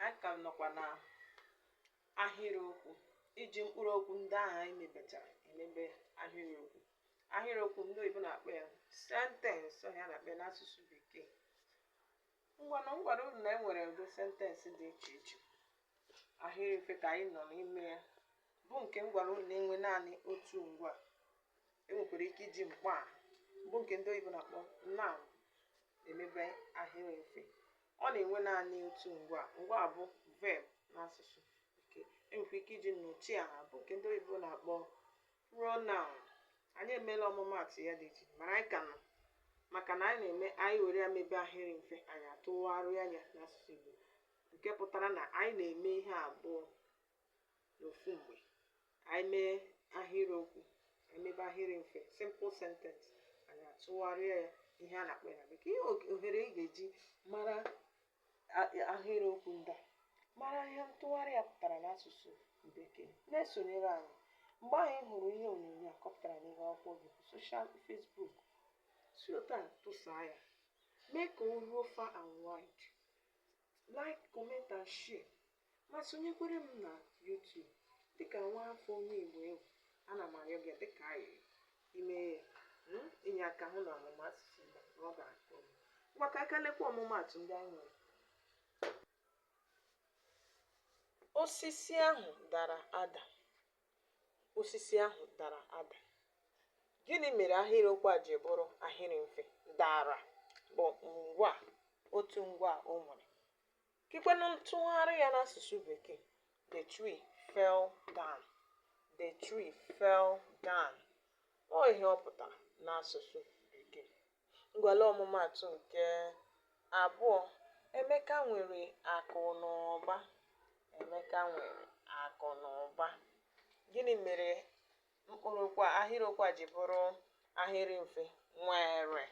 anyị ka nọkwa na ahịrịokwu iji mkpụrụ okwu ndị ahụ anyị mebechara emebe ahịrịokwu ahịrịokwu ndị oyibo na-akpọ ya sentence ọ ihe a na-akpọ ya n'asụsụ bekee ngwanụ m gwara unu na e nwere ụdị sentence dị iche iche ahịrị mfe ka anyị nọ n'ime ya bụ nke m gwara unu na-enwe naanị otu ngwaa e nwekwara ike iji mkpọaha bụ nke ndị oyibo na-akpọ noun emebe ahịrị mfe ọ na-enwe naanị otu ngwaa ngwaa bụ verb n'asụsụ Bekee e nwekwa ike iji nnọchiaha bụ nke ndị oyibo na-akpọ pronoun anyị emeela ọmụmaatụ ya dị iche mana anyị ka nọ maka na anyị na-eme anyị were ya mebe ahịrị mfe anyị atụgharịa ya n'asụsụ Igbo nke pụtara na anyị na-eme ihe abụọ n'ofu mgbe anyị mee ahịrịokwu anyị mebe ahịrị mfe simple sentence anyị atụgharịa ya ihe a na-akpọ ya na bekee ihe og- ohere ị ga-eji mara a- ahịrịokwu ndị a mara ihe ntụgharị ya pụtara n'asụsụ bekee na-esonyere anyị mgbe anyị hụrụ ihe onyonyo a kọpụtara n'ihu akwụkwọ gị social Facebook si otu a tụsaa ya mee ka o ruo far and wide like comment and share ma sonyekwere m na YouTube dịka nwa afọ onye Igbo ị bụ ana m arịọ gị dịka ayịrị ime hmm, inye aka hụ na ọmụmụ asụsụ Igbo na ọ gara nke ọma ngwa ka aka lekwa ọmụmaatụ ndị anyị nwere osisi ahụ dara ada osisi ahụ dara ada gịnị mere ahịrịokwu a ji bụrụ ahịrị mfe dara bụ ngwaa otu ngwaa o nwere Kekwenụ ntụgharị ya n'asụsụ Bekee, The tree fell down. The tree fell down. Ọ ihe ọ pụtara n'asụsụ Bekee. Ngwa lee ọmụmaatụ nke abụọ, Emeka nwere akụ na ụba. Emeka nwere akụ na ụba. Gịnị mere mkpụrụ okwu a- ahịrịokwu a ji bụrụ ahịrị mfe? Nwere.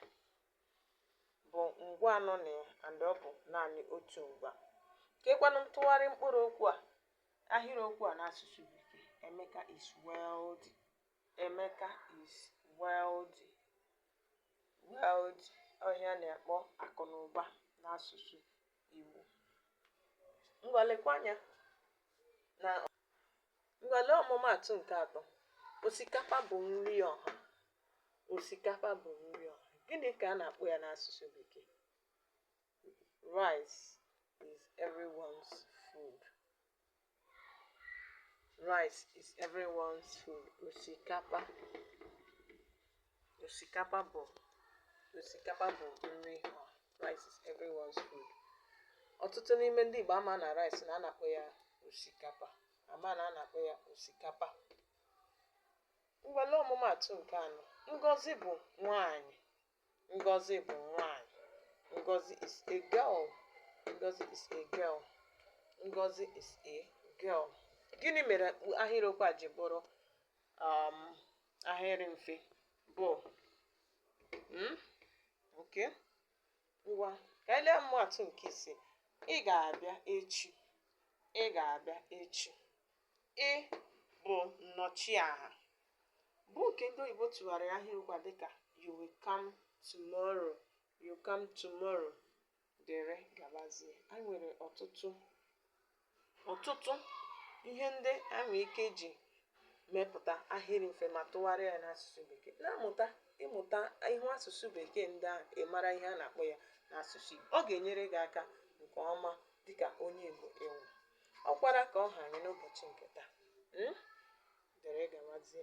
bụ ngwaa nọ na ya and ọ bụ naanị otu ngwaa kekwanụ ntụgharị mkpụrụ okwu a ahịrịokwu a n'asụsụ bekee emeka is wealthy emeka is wealthy wealthy ọ ihe a na-akpọ akụ na ụba n'asụsụ igbo ngwa lekwa anya na Ngwa lee ọmụmaatụ nke atọ. Osikapa bụ nri ọha. Osikapa bụ nri ọha. Gịnị ka a na-akpọ ya n'asụsụ Bekee? Rice is everyone's food. Rice is everyone's food. Osikapa osikapa bụ osikapa bụ nri ọha rice is everyone's food ọtụtụ n'ime ndị Igbo ama na rice na a na-akpọ ya osikapa ama na a na-akpọ ya osikapa ngwa lee ọmụmaatụ nke anọ Ngozi bụ nwanyị Ngozi bụ nwanyị Ngozi is a girl Ngozi is a girl Ngozi is a girl gịnị mere ahịrịokwu a ji bụrụ um, ahịrị mfe bụ hmm? okay ngwa ka anyị lee ọmụmaatụ nke ise ị ga-abịa echi ị ga-abịa echi ị bụ nnọchiaha bụ nke ndị oyibo tụgharịrị ahịrịokwu a dịka you will come tomorrow you come tomorrow dere gabazie. Anyị nwere ọtụtụ ọtụtụ ihe ndị a nwere ike iji mepụta ahịrị mfe ma tụgharịa ya n'asụsụ bekee na-amụta ịmụta ihu asụsụ bekee ndị ahụ ị mara ihe a na-akpọ ya n'asụsụ Igbo ọ ga-enyere gị aka nke ọma dịka onye Igbo ị wụ ọkwara ka ọ ha anyị n'ụbọchị nke taa dere gabazie